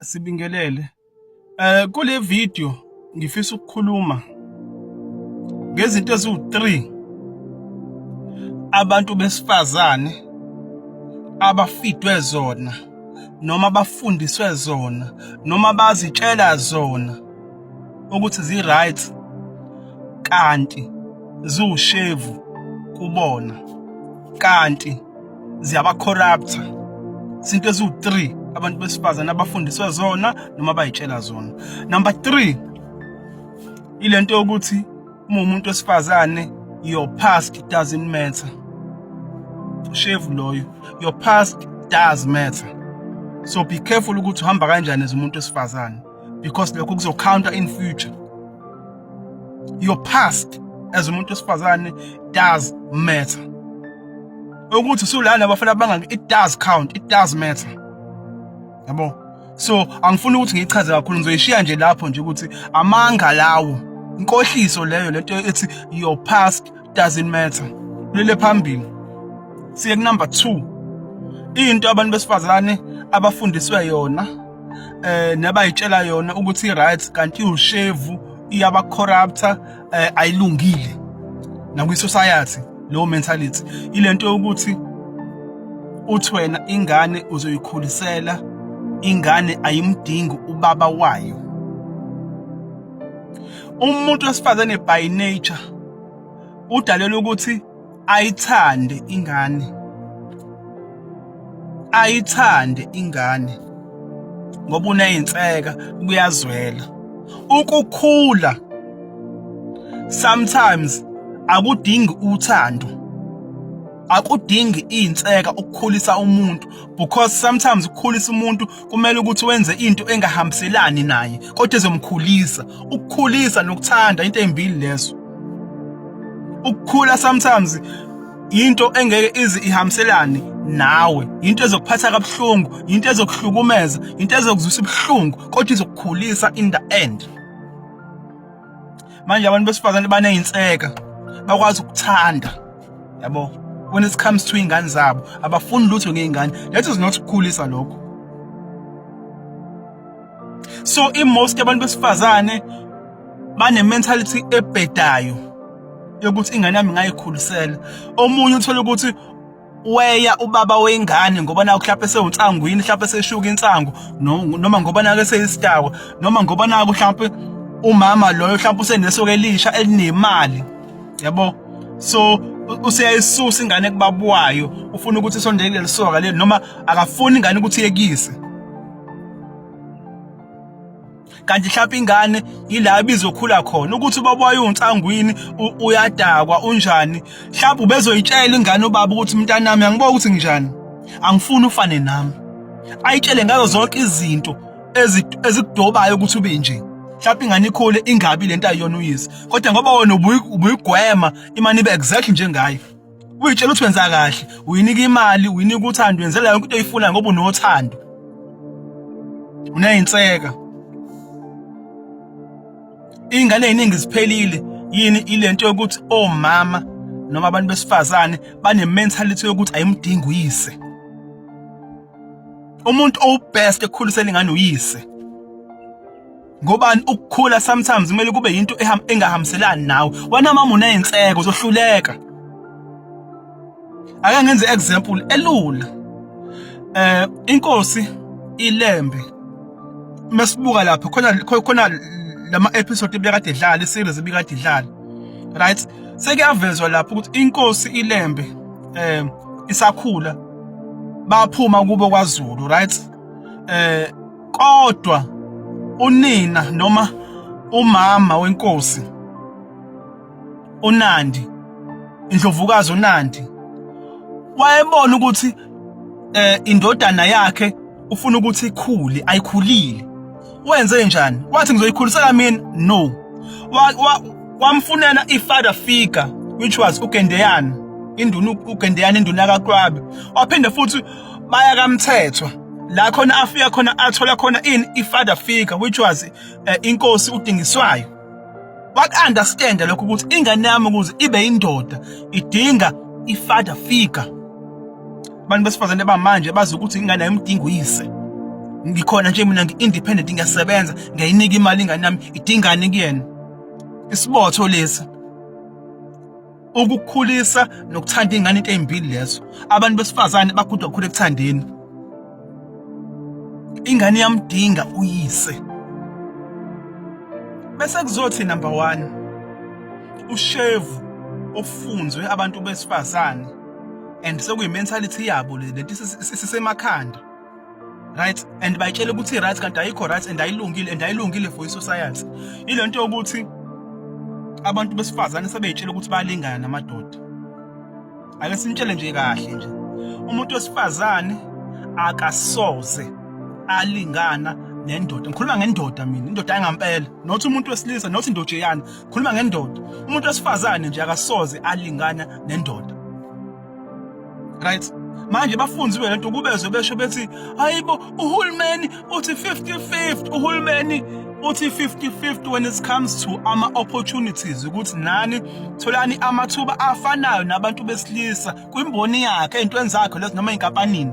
Sibingelele eh kule video ngifisa ukukhuluma ngezinto eziwu3 abantu besifazane abafidwe zona noma bafundiswe zona noma bazitshela zona ukuthi zi right kanti ziwushevu kubona kanti ziyabacorrupta izinto eziwu-three abantu besifazane abafundiswe zona noma bayitshela zona number three ile nto yokuthi uma umuntu wesifazane your past doesn't matter ushevu loyo your past does matter so be careful ukuthi uhamba kanjani as umuntu wesifazane because lokho kuzocounter in future your past as umuntu wesifazane does matter ukuthi usulana abafana bangaki it does count it does matter yabo so angifuni ukuthi ngichaze kakhulu ngizoyishiya nje lapho nje ukuthi amanga lawo inkohliso leyo lento ethi your past doesn't matter lele phambili siye ku number 2 into abantu besifazane abafundiswe yona eh nabayitshela yona ukuthi right kanti ushevu iyaba corrupta eh, ayilungile nakwi society lo mentality ilento yokuthi uthi wena ingane uzoyikhulisela ingane ayimdingi ubaba wayo umuntu wesifazane by nature udalelwe ukuthi ayithande ingane ayithande ingane ngoba uneyinseka kuyazwela ukukhula sometimes akudingi uthando akudingi inseka ukukhulisa umuntu because sometimes ukukhulisa umuntu kumele ukuthi wenze into engahambiselani naye kodwa ezomkhulisa ukukhulisa nokuthanda into embili lezo ukukhula sometimes into engeke izi ihambiselane nawe into ezokuphatha kabuhlungu into ezokuhlukumeza into ezokuzwisa ubuhlungu kodwa izokukhulisa in the end manje abantu besifazane baneyinseka bakwazi ukuthanda yabo when it comes to ingane zabo abafuni lutho ngeingane that is not ukukhulisa lokho so imost abantu besifazane bane mentality ebhedayo yokuthi ingane yami ngayikhulisela omunye uthola ukuthi weya ubaba wengane ngoba naku mhlawumbe sewunsangwini mhlawumbe seshuka insangu noma ngoba nake seyisitawa noma ngoba naku mhlawumbe umama loyo mhlawumbe usenesoke elisha elinemali yabo so useyayisusa ingane kubaba wayo ufuna ukuthi isondele kuleli soka leli noma akafuni ingane ukuthi yekise kanti mhlawumbe ingane yila ibizokhula khona ukuthi ubaba wayo unsangwini uyadakwa unjani mhlawumbe ubezoyitshela ingane ubaba ukuthi mntanami angiboka ukuthi nginjani angifuni ufane nami ayitshele ngazo zonke izinto ezikudobayo ukuthi ube nje mhlawumbe ingane ikhule ingabi lento ayiyona uyise kodwa ngoba wona ubuyigwema imane ibe exactly njengayo uyitshela ukuthi wenza kahle uyinika imali uyinika uthando wenzela yonke into oyifuna ngoba unothando uneyinseka ingane eziningi ziphelile yini ilento yokuthi omama oh, noma abantu besifazane bane mentality yokuthi ayimdingi uyise umuntu owubest ekukhuliseni ingane uyise ngobani ukukhula sometimes kumele kube yinto engahambiselani nawe wena mama uney'nseko uzohluleka ake ngenze example elula eh inkosi ilembe masibuka lapha khona khona lama episode ebekade idlala iseries ebikade idlala right sekuyavezwa lapho ukuthi inkosi ilembe eh isakhula baphuma kubo kwaZulu right eh kodwa unina noma umama wenkosi uNandi indlovukazi uNandi wayebona ukuthi eh indodana yakhe ufuna ukuthi ikhule ayikhulile wenze njani wathi ngizoyikhulisela mina no wamfunela ifather figure which was uGendeyana induna uGendeyana induna kaQwabe waphinde futhi baya kamthethwa la khona afika khona athola khona in ifather figure which was uh, inkosi udingiswayo waku-understand lokho ukuthi ingane yami ukuze ibe indoda idinga ifather figure abantu besifazane bamanje bazi ukuthi ingane yomdingo uyise ngikhona nje mina ngi-independent ngiyasebenza ngiyayinika imali ingane yami idingane kuyena isibotho lesi ukukhulisa nokuthanda ingane into ezimbili lezo abantu besifazane bagudwa khulu ekuthandeni ingane yamdinga uyise bese kuzothi number 1 ushevu ofunzwe abantu besifazane and sekuyi mentality yabo le lento sisemakhanda right and bayitshela ukuthi right kanti ayikho right and ayilungile and ayilungile for isociety ilento yokuthi abantu besifazane sebeyitshela ukuthi balingana namadoda ake sinitshele nje kahle nje umuntu wesifazane akasoze alingana nendoda ngikhuluma ngendoda mina indoda yangampela not umuntu wesilisa not indojeyana ngikhuluma ngendoda umuntu wesifazane nje akasoze alingana nendoda right manje bafunzi wena nto kubezwe besho bethi hayibo uhulumeni uthi 50-50 uhulumeni uthi 50-50 when it comes to ama-opportunities ukuthi nani tholani amathuba afanayo nabantu besilisa kwimboni yakhe ey'ntweni zakhe lezi noma ey'nkampanini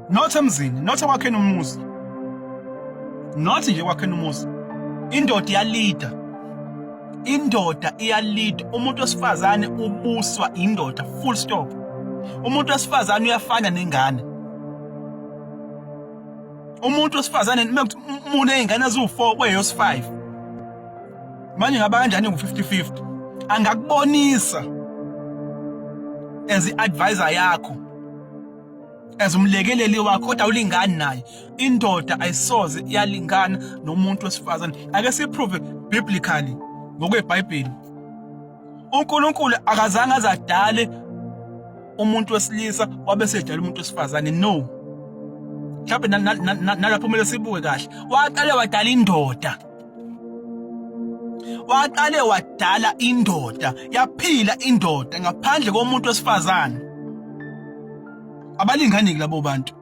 not emzini not ekwakheni umuzi not nje ekwakheni umuzi indoda iyalida indoda iyalida umuntu wesifazane ubuswa indoda full stop umuntu wesifazane uyafana nengane umuntu wesifazane umuntu nezingane eziwu4 kweyos5 manje ngaba kanjani ngu50 50 angakubonisa as advisor yakho as umlekeleli wakho kodwa ulingani naye indoda ayisoze iyalingana nomuntu wesifazane ake siprove biblically ngokwebhayibheli uNkulunkulu akazange azadale umuntu wesilisa wabe sedala umuntu wesifazane no mhlawumbe nalapho kumele sibuke kahle waqale wadala indoda waqale wadala indoda yaphila indoda ngaphandle komuntu wesifazane abalingani labo bantu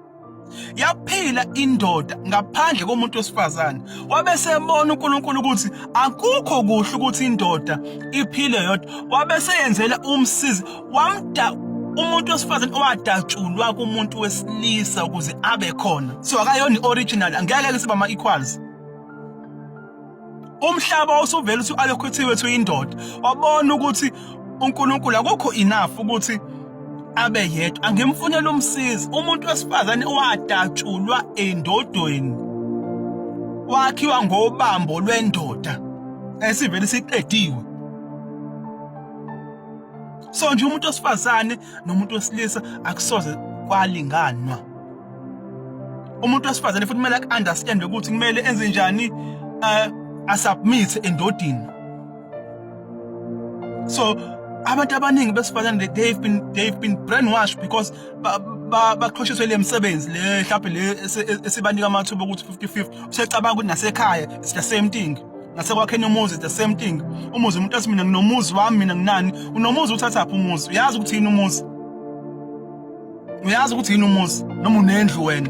yaphila indoda ngaphandle komuntu wesifazane wabe sebona uNkulunkulu ukuthi akukho kuhle ukuthi indoda iphile yodwa wabe seyenzela umsizi wamda umuntu wesifazane owadatshulwa kumuntu wesilisa ukuze abe khona so akayona i-original angeke ke siba ama-equals umhlaba usuvela uthi alokhuthiwe ethi uyindoda wabona ukuthi uNkulunkulu akukho enough ukuthi abe yedwa angimfunela umsizi umuntu wesifazane wadatshulwa endodweni wakhiwa ngobambo lwendoda esivele siqediwe so nje umuntu wesifazane nomuntu wesilisa akusoze kwalinganwa umuntu wesifazane futhi kumele aku-understande ukuthi kumele enze njani uh, asubmit endodini so abantu abaningi besifazane they've been they've been brainwashed because baqhoshiswe le msebenzi le mhlawumbe le e, esibanika amathuba ukuthi 50-50 usecabanga ukuthi nasekhaya it's the same thing nasekwakheni umuzi the same thing umuzi umuntu athi mina nginomuzi wami mina nginani unomuzi uthathaphi umuzi uyazi ukuthi yini umuzi uyazi ukuthi yini umuzi noma unendlu wena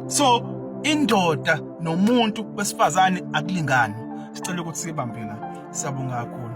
so indoda nomuntu wesifazane akulingani sicela ukuthi sibambela siyabonga kakhulu